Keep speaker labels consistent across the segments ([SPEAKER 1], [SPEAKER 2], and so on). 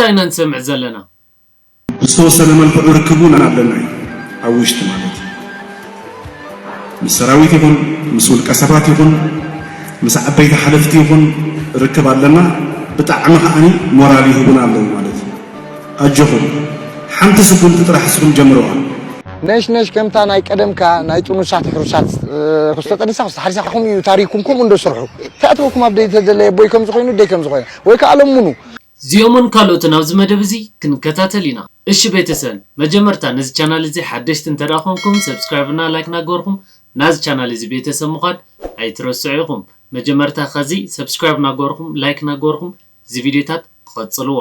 [SPEAKER 1] እንታይ ኢና ንሰምዕ ዘለና? ብዝተወሰነ
[SPEAKER 2] መልክዑ ርክብ እውን ኣለና እዩ። ኣብ ውሽጢ ማለት እዩ። ምስ ሰራዊት ይኹን ምስ ውልቀ ሰባት ይኹን ምስ ዓበይቲ ሓለፍቲ ይኹን ርክብ ኣለና። ብጣዕሚ ከዓኒ ሞራል ይህቡና ኣለዉ ማለት እዩ። ኣጆኹም ሓንቲ ስጉምቲ ጥራሕ እስኹም ጀምርዋ። ነሽነሽ
[SPEAKER 3] ከምታ ናይ ቀደምካ ናይ ጥኑሳት ሕሩሳት ክስተ ጠኒሳ ክስተ ሓሪሳ ከምኡ እዩ ታሪኩም ከምኡ እንዶ ስርሑ ተኣትወኩም ኣብ ደይ ተደለየ ቦይ ከምዚ ኮይኑ ደይ ከምዚ ኮይና ወይ ከዓ ለሙኑ እዚኦምን
[SPEAKER 1] ካልኦትን ኣብዚ መደብ እዚ ክንከታተል ኢና። እሺ ቤተሰል መጀመርታ ነዚ ቻናል እዚ ሓደሽቲ እንተድኣ ኮንኩም ሰብስክራይብ እና ላይክ ናገበርኩም ናዚ ቻናል እዚ ቤተሰብ ምኳን ኣይትረስዑ ኢኩም መጀመርታ ከዚ ሰብስክራይብ ናገበርኩም ላይክ ናገበርኩም እዚ ቪድዮታት ቐጽልዎ።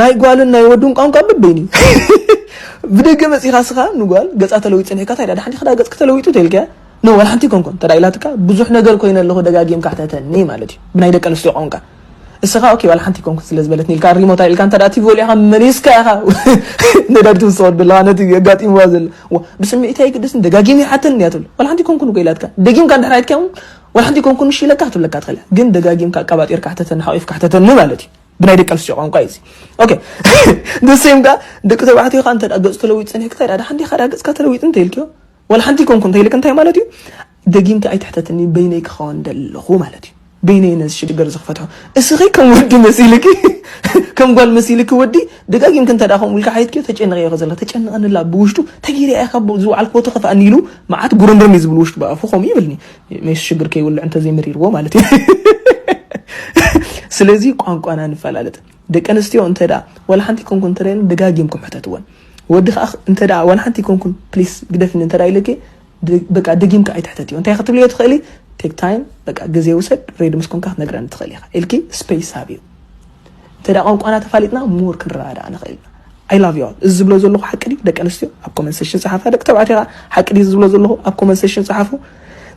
[SPEAKER 1] ናይ ጓልን
[SPEAKER 4] ናይ ወዱን ቋንቋ በበይኑ እዩ ብደገ መጺኻ ስኻ ንጓል ገጻ ተለዊጡ ጸኒሕካ እንታይ ድኣ ሓንቲ ክዳ ገጽኪ ተለዊጡ ተልካያ ኖ ዋላ ሓንቲ ኮንኮን ተዳ ኢላትካ ብዙሕ ነገር ኮይነ ኣለኹ ደጋጊምካ ሕተተኒ ማለት እዩ ብናይ ደቂ ኣንስትዮ ቋንቋ እስኻ ኦኬ ዋላ ሓንቲ ኮንኩን ስለ ዝበለትኒ ኢልካ ሪሞታ ኢልካ እንተ ቲቪ ወሊዕካ መሊስካ ኢኻ ነዳዲ ትውስኸዱ ኣለኻ ነቲ ኣጋጢምዋ ዘሎ ብስምዒት ኣይግደስን ደጋጊም ይሓተኒ እያ ትብል ዋላ ሓንቲ ኮንኩን እኮ ኢላትካ ደጊምካ እንድሕር ኣይትካውን ዋላ ሓንቲ ኮንኩን እሺ ኢለካ ክትብለካ ትኽእል ግን ደጋጊምካ ኣቀባጢርካ ሕተተኒ ሓቂፍካ ሕተተኒ ማለት እዩ ብናይ ደቂ ኣንስትዮ ቋንቋ እዩ ኦኬ ንሰም ከ ደቂ ተባዕትዮ ከ እንተ ገጹ ተለዊጡ ጸኒሕካ ታይ ዳሓን ዲኻ ዳ ገጽካ ተለዊጡ እንተ ኢልክዮ ወላ ሓንቲ ኮንኩ እንተ ኢልክ እንታይ ማለት እዩ ደጊምካ ኣይትሕተትኒ በይነይ ክኸውን ደለኹ ማለት እዩ በይነይ ነዚ ሽግር ዝክፈትሖ እስኺ ከም ወዲ መሲልኪ ከም ጓል መሲልኪ ወዲ ደጋጊምክ እንተ ከምኡ ኢልካ ሓይትክዮ ተጨንቀ እየ ከዘላ ተጨንቐንላ ብውሽጡ ተጊርያ ኢኻ ዝወዓልክ ቦቲ ከፍኣኒ ኢሉ መዓት ጉርምርም እዩ ዝብል ውሽጡ ብኣፉ ከምኡ ይብልኒ ሜስ ሽግር ከይውልዕ እንተዘይመሪርዎ ማለት እዩ ስለዚ ቋንቋና ንፈላለጥ ደቂ ኣንስትዮ እንተ ዋላ ሓንቲ ኮንኩን እንተደለ ደጋጊምኩም ሕተትወን ወዲ ከዓ እንተ ዋላ ሓንቲ ኮንኩን ፕሊስ ግደፍኒ እንተ ኢለኪ በቃ ደጊምካ ኣይትሕተትዮ እንታይ ክትብልዮ ትኽእሊ ቴክ ታይም በቃ ግዜ ውሰድ ሬድ ምስ ኮንካ ክትነግረኒ ትኽእል ኢኻ ኢልኪ ስፔስ ሃብዩ እንተ ቋንቋና ተፋሊጥና ሞር ክንረዳዳእ ንኽእል ኢና ኣይ ላቭ ዩ እዚ ዝብሎ ዘለኹ ሓቂ ድዩ ደቂ ኣንስትዮ ኣብ ኮመንት ሴሽን ፀሓፋ ደቂ ተባዕትዮ ከዓ ሓቂ ድዩ ዝብሎ ዘለኹ ኣብ ኮመንት ሴሽን ፀሓፉ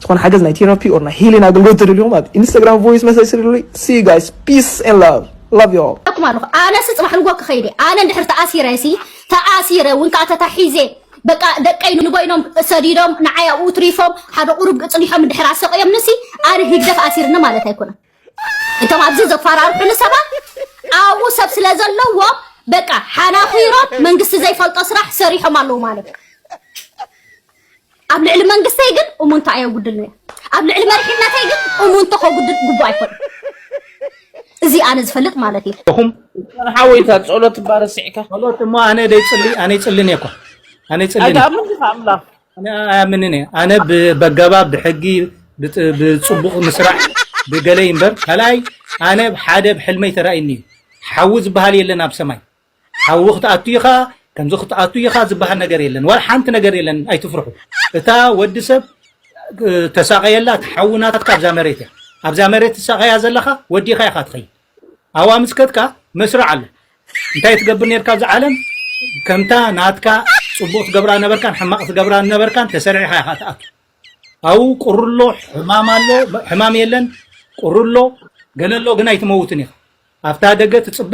[SPEAKER 4] ዝኾነ ሓገዝ ናይ ቴራፒ ኦር ናይ ሂሊን ኣገልግሎት ትደልዩኹም ኣብ ኢንስታግራም ቮይስ መሰጅ ስልሉይ ሲ ጋይስ ፒስ ኤንድ ላቭ ላቭ ዩ ኣኩም ኣለኹ ኣነሲ ፅባሕ
[SPEAKER 5] ንጎ ክኸይድ ኣነ እንድሕር ተኣሲረ ሲ ተኣሲረ እውን ከዓ ተታሒዘ በቃ ደቀይ ንጎይኖም ሰዲዶም ንዓይ ኣብኡ ትሪፎም ሓደ ቁሩብ ፅኒሖም እንድሕር ኣሰቂዮምንሲ ኣነ ህግደፍ ኣሲርኒ ማለት ኣይኮነን እቶም ኣብዚ ዘፈራርሑኒ ሰባት ኣብኡ ሰብ ስለ ዘለዎም በቃ ሓናኺሮም መንግስቲ ዘይፈልጦ ስራሕ ሰሪሖም ኣለዉ ማለት እዩ ኣብ ልዕሊ መንግስተይ ግን እሙንታ ኣየጉድልን እያ ኣብ ልዕሊ መሪሕነተይ ግን እሙንቶ ከጉድል ግቡእ ኣይኮነ እዚ ኣነ ዝፈልጥ ማለት እዩ እኹም
[SPEAKER 6] ሓወይታ ጸሎት ባረስዕካ ጸሎት እሞ ኣነ ደይ ጽሊ ኣነ ይጽልን እየ እኳ ኣነ ይጽልን እየ ኣይትኣምን ዲኻ ኣምላኽ ኣነ ኣያምንን እየ ኣነ በገባብ ብሕጊ ብፅቡቅ ምስራሕ ብገለ እምበር ካልኣይ ኣነ ሓደ ብሕልመይ ተራእይኒ እዩ ሓዊ ዝበሃል የለን ኣብ ሰማይ ሓዊ ክትኣቱ ኢኻ ከምዚ ክትኣቱ ኢኻ ዝበሃል ነገር የለን ዋላ ሓንቲ ነገር የለን ኣይትፍርሑ እታ ወዲ ሰብ ተሳቀየላ ትሓዊ ናትካ ኣብዛ መሬት እያ ኣብዛ መሬት ትሳቀያ ዘለኻ ወዲኻ ኢኻ ትኸይድ ኣብኡ ኣምስከትካ መስርዕ ኣሎ እንታይ ትገብር ነርካ ኣብዛ ዓለም ከምታ ናትካ ጽቡቅ ትገብራ ነበርካን ሕማቅ ትገብራ ነበርካን ተሰሪዕካ ኢኻ ትኣቱ ኣብኡ ቁርሎ ሕማም ኣሎ ሕማም የለን ቁርሎ ገለሎ ግን ኣይትመውትን ኢኻ ኣብታ ደገ ትጽበ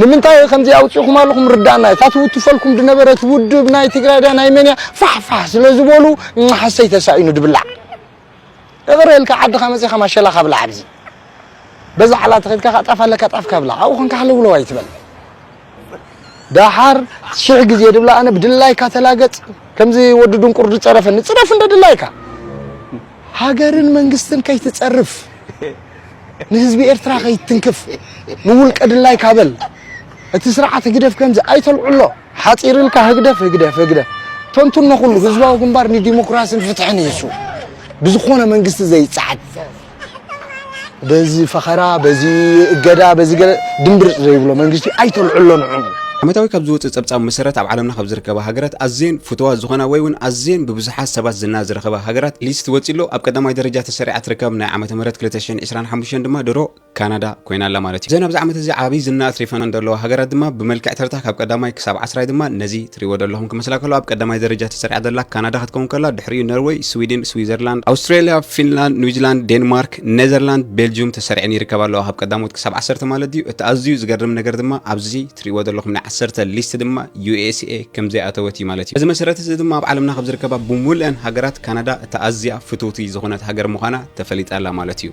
[SPEAKER 3] ንምንታይ ከምዚ ኣውጺኹም ኣለኹም ርዳእና እታ ትውትፈልኩም ድነበረት ውድብ ናይ ትግራይ ድያ ናይ መን እያ ፋሕፋሕ ስለ ዝበሉ ሓሰይ ተሳኢኑ ድብላዕ እቕረ ኢልካ ዓድኻ መጺኻ ማሸላኻ ብላዕ ኣብዚ በዛ ዓላ ተኺድካ ካእ ጣፍ ኣለካ ጣፍካ ብላዕ ኣብኡ ኮንካ ሃለውለው ኣይትበል ዳሓር ሽሕ ግዜ ድብላ ኣነ ብድላይካ ተላገጽ ከምዚ ወዲ ድንቁር ዝጸረፈኒ ጽረፍ እንደ ድላይካ ሃገርን መንግስትን ከይትጸርፍ ንህዝቢ ኤርትራ ከይትትንክፍ ንውልቀ ድላይካ በል እቲ ስርዓት ህግደፍ ከምዚ ኣይተልዕሎ ሓጺር ኢልካ ህግደፍ ህግደፍ ህግደፍ ተንትኖ ኩሉ ህዝባዊ ግንባር ንዲሞክራስን ፍትሕን ኢሱ ብዝኾነ መንግስቲ ዘይጸዓድ በዚ ፈኸራ በዚ እገዳ በዚ ገለ ድምብርጽ ዘይብሎ መንግስቲ ኣይተልዕሎ ንዕኡ። ዓመታዊ ካብ ዝወጽእ
[SPEAKER 7] ጸብጻብ መሰረት ኣብ ዓለምና ካብ ዝርከባ ሃገራት ኣዝየን ፍቱዋት ዝኾና ወይ ውን ኣዝየን ብብዙሓት ሰባት ዝና ዝረኸባ ሃገራት ሊስት ወጺኡ ኣሎ። ኣብ ቀዳማይ ደረጃ ተሰሪዓ ትርከብ ናይ ዓመተ ምህረት ክልተ ሽሕን ዕስራን ሓሙሽተን ድማ ድሮ ካናዳ ኮይና ኣላ ማለት እዩ። እዘን ኣብዚ ዓመት እዚ ዓቢ ዝና ኣትሪፈናን ዘለዋ ሃገራት ድማ ብመልክዕ ተርታ ካብ ቀዳማይ ክሳብ ዓስራይ ድማ ነዚ ትሪእዎ ዘለኹም ክመስላ ከሎ ኣብ ቀዳማይ ደረጃ ተሰሪዓ ዘላ ካናዳ ክትከውን ከላ ድሕሪኡ ነርወይ፣ ስዊድን፣ ስዊዘርላንድ፣ ኣውስትራልያ፣ ፊንላንድ፣ ኒውዚላንድ፣ ዴንማርክ፣ ኔዘርላንድ ቤልጁም ተሰሪዐን ይርከባ ኣለዋ ካብ ቀዳሞት ክሳብ ዓሰርተ ማለት እዩ እቲ ኣዝዩ ዝገርም ነገር ድማ ኣብዚ ትሪእዎ ዘለኹም ናይ ዓሰርተ ሊስት ድማ ዩኤስኤ ከም ዘይኣተወት እዩ ማለት እዩ እዚ መሰረት እዚ ድማ ኣብ ዓለምና ካብ ዝርከባ ብሙሉአን ሃገራት ካናዳ እታ ኣዝያ ፍትውቲ ዝኾነት ሃገር ምዃና ተፈሊጣ ኣላ ማለት እዩ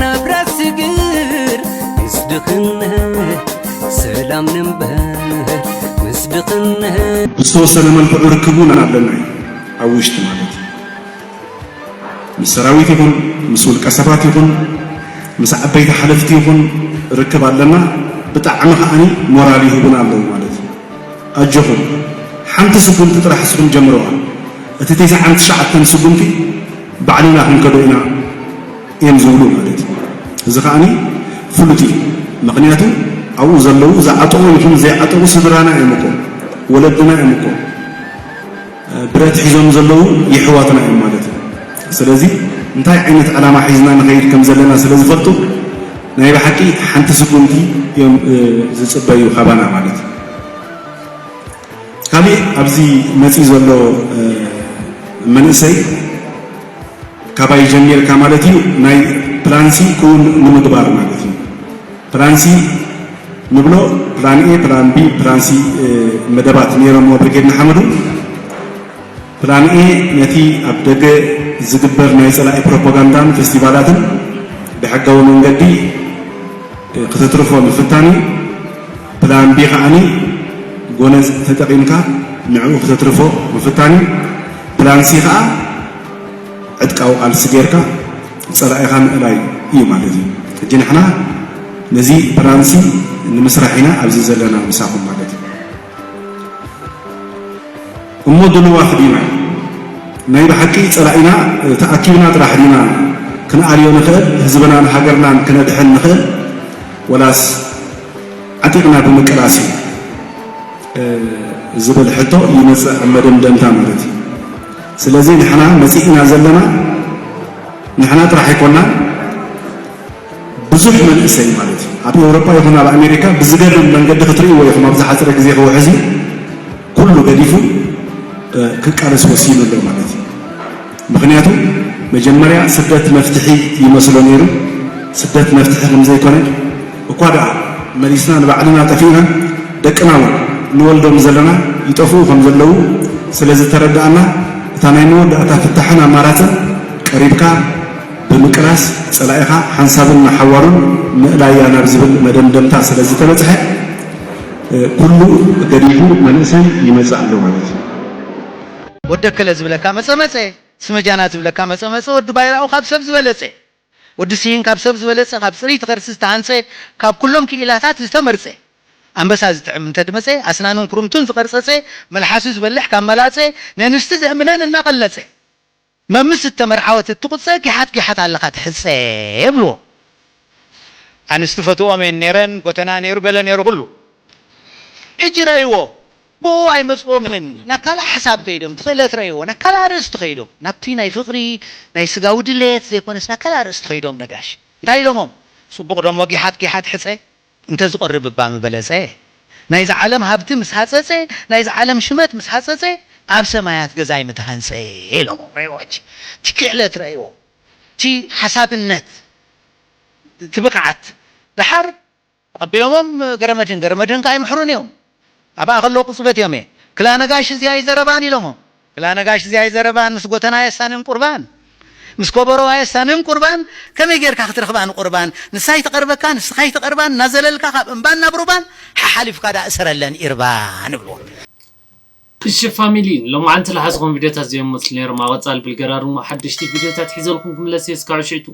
[SPEAKER 2] ናብራ ስግር ምስ ድኽነት ሰላም ንበር ምስ ድኽነት ብዝተወሰነ መልክዑ ርክብ እውን ኣለና እዩ ኣብ ውሽጢ ማለት እዩ ምስ ሰራዊት ይኹን ምስ ውልቀ ሰባት ይኹን ምስ ዓበይቲ ሓለፍቲ ይኹን ርክብ ኣለና ብጣዕሚ ከዓኒ ሞራል ይህቡና ኣለዉ ማለት እዩ ኣጆኹም ሓንቲ ስጉምቲ ጥራሕ እስኹም ጀምርዋ እቲ ቴስዓን ትሽዓተን ስጉምቲ ባዕልና ክንከዶ ኢና እዬም ዝብሉ ማለት እዩ እዚ ከኣ ፍሉጥ እዩ ምኽንያቱ ኣብኡ ዘለዉ ዝዓጠቑ ይኹኑ ዘይዓጠቑ ስድራና እዮም እኮ ወለድና እዮም እኮ ብረት ሒዞም ዘለዉ የሕዋትና እዮም ማለት እዩ ስለዚ እንታይ ዓይነት ዕላማ ሒዝና ንኸይድ ከም ዘለና ስለ ዝፈልጡ ናይ ብሓቂ ሓንቲ ስጉምቲ እዮም ዝጽበዩ ካባና ማለት እዩ ካሊእ ኣብዚ መጺ ዘሎ መንእሰይ ካባይ ጀሚርካ ማለት እዩ ናይ ፕላን ሲ ክውን ንምግባር ማለት እዩ ፕላን ሲ ንብሎ ፕላን ኤ ፕላን ቢ ፕላን ሲ መደባት ነይሮሞ ብርጌድ ንሓመዱ ፕላን ኤ ነቲ ኣብ ደገ ዝግበር ናይ ፀላኢ ፕሮፓጋንዳን ፌስቲቫላትን ብሕጋዊ መንገዲ ክተትርፎ ምፍታን እዩ ፕላን ቢ ከኣ ጎነጽ ተጠቒምካ ንዕኡ ክተትርፎ ምፍታን እዩ። ፕላን ሲ ከኣ ዕጥቃዊ ቃልሲ ጌርካ ጸላኢኻ ምእላይ እዩ ማለት እዩ። ሕጂ ንሕና ነዚ ፕላን ሲ ንምስራሕ ኢና ኣብዚ ዘለና ምሳኹም ማለት እዩ። እሞ ድልዋት ዲና? ናይ ብሓቂ ጸላኢና ተኣኪብና ጥራሕ ዲና ክንኣልዮ ንኽእል? ህዝብናን ሃገርናን ክነድሕን ንኽእል? ወላስ ዓጢቕና ብምቅላስ እዩ ዝብል ሕቶ ይመፅእ ኣብ መደምደምታ ማለት እዩ። ስለዚ ንሕና መፂእና ዘለና ንሕና ጥራሕ ኣይኮና ብዙሕ መንእሰይ ማለት እዩ ኣብ ኤውሮጳ ይኹን ኣብ ኣሜሪካ ብዝገርም መንገዲ ክትርእይዎ ኢኹም ኣብ ዝሓፀረ ግዜ ክውሕዝ እዩ ኩሉ ገዲፉ ክቃለስ ወሲኑ ኣሎ ማለት እዩ። ምኽንያቱ መጀመርያ ስደት መፍትሒ ይመስሎ ነይሩ ስደት መፍትሒ ከምዘይኮነ እኳ ደኣ መሊስና ንባዕልና ጠፊእና ደቅና ውን ንወልዶም ዘለና ይጠፍኡ ከምዘለዉ ስለዝተረዳእና እታ ናይ መወዳእታ ፍታሕን ኣማራጽን ቀሪብካ ብምቅላስ ጸላኢኻ ሓንሳብን ንሓዋሩን ምእላይያ ናብ ዝብል መደምደምታ ስለዝተበጽሐ ኩሉ ገዲፉ መንእሰይ ይመጽእ ኣሎ ማለት እዩ።
[SPEAKER 8] ወዲ ኣከለ ዝብለካ መጸ መጸ ስመ ጃና ዝብለካ መጸ መጸ ወዲ ባይራኡ ካብ ሰብ ዝበለጸ ወዲ ስሂን ካብ ሰብ ዝበለጸ ካብ ጽርይቲ ከርሲ ዝተሃንጸ ካብ ኩሎም ክኢላታት ዝተመርጸ ኣንበሳ ዝጥዕም እንተድመጸ ኣስናኑን ኩርምቱን ዝቀርጸጸ መልሓሱ ዝበልሕ ካብ መላጸ ነንስቲ ዘእምነን እናቀለጸ መምስ እተመርዓወት እትቁጸ ጊሓት ጊሓት ኣለኻ ትሕጸ የብልዎ ኣንስቲ ፈትወኦም እየን ነይረን ጎተና ነይሩ ገለ ነይሩ ኩሉ ሕጂ ረእይዎ ብኡ ኣይመጽኦምን ናብ ካልእ ሓሳብ ከይዶም ብክእለት ረእይዎ ናብ ካልእ ኣርእስቲ ከይዶም ናብቲ ናይ ፍቅሪ ናይ ስጋዊ ድሌት ዘይኮነስ ናብ ካልእ ኣርእስቲ ከይዶም ነጋሽ እንታይ ኢሎሞም ጽቡቅ ዶሞ ጊሓት ጊሓት ሕጸ እንተዝቀርብ እባ ምበለጸ ናይዛ ዓለም ሃብቲ ምስ ሃጸጸ ናይዛ ዓለም ሽመት ምስ ሃጸጸ ኣብ ሰማያት ገዛይ ምተሃንጸ ኢሎሞም ረእይዎ ሕጂ እቲ ክእለት ረእይዎ እቲ ሓሳብነት እቲ ብቕዓት ደሓር ተቐቢሎሞም ገረመድህን ገረመድህን ከኣ ይምሕሩኒ እዮም ኣብኣ ከለዉ ቅጽበት እዮም እየ ክላ ነጋሽ እዚ ኣይዘረባን ኢሎሞ ክላ ነጋሽ እዚ ኣይዘረባን ምስ ጎተና ኣየሳንን ቁርባን ምስ ኮቦሮ ኣየሳንን ቁርባን ከመይ ጌርካ ክትረኽባ ንቁርባን ንሳ ኣይትቐርበካን ንስኻ ኣይትቐርባን እናዘለልካ ካብ እምባን ናብ ሩባን ሓሓሊፍካ ደኣ እሰረለን ኢርባን እብልዎ።
[SPEAKER 1] እሺ ፋሚሊ ሎማዓንቲ ልሓዝኹም ቪድዮታት ዘዮም መስሉ ነይሮም ኣብ ቐፃሊ ብልገራ ድሞ ሓደሽቲ ቪድዮታት ሒዘልኩም ክምለስ እየ እስካዑ ሽዕቱ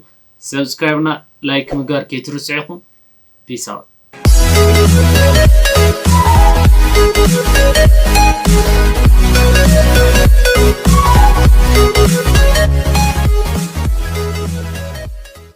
[SPEAKER 1] subscribe እና like ምግባር ከይትርስዑ ኢኹም peace out።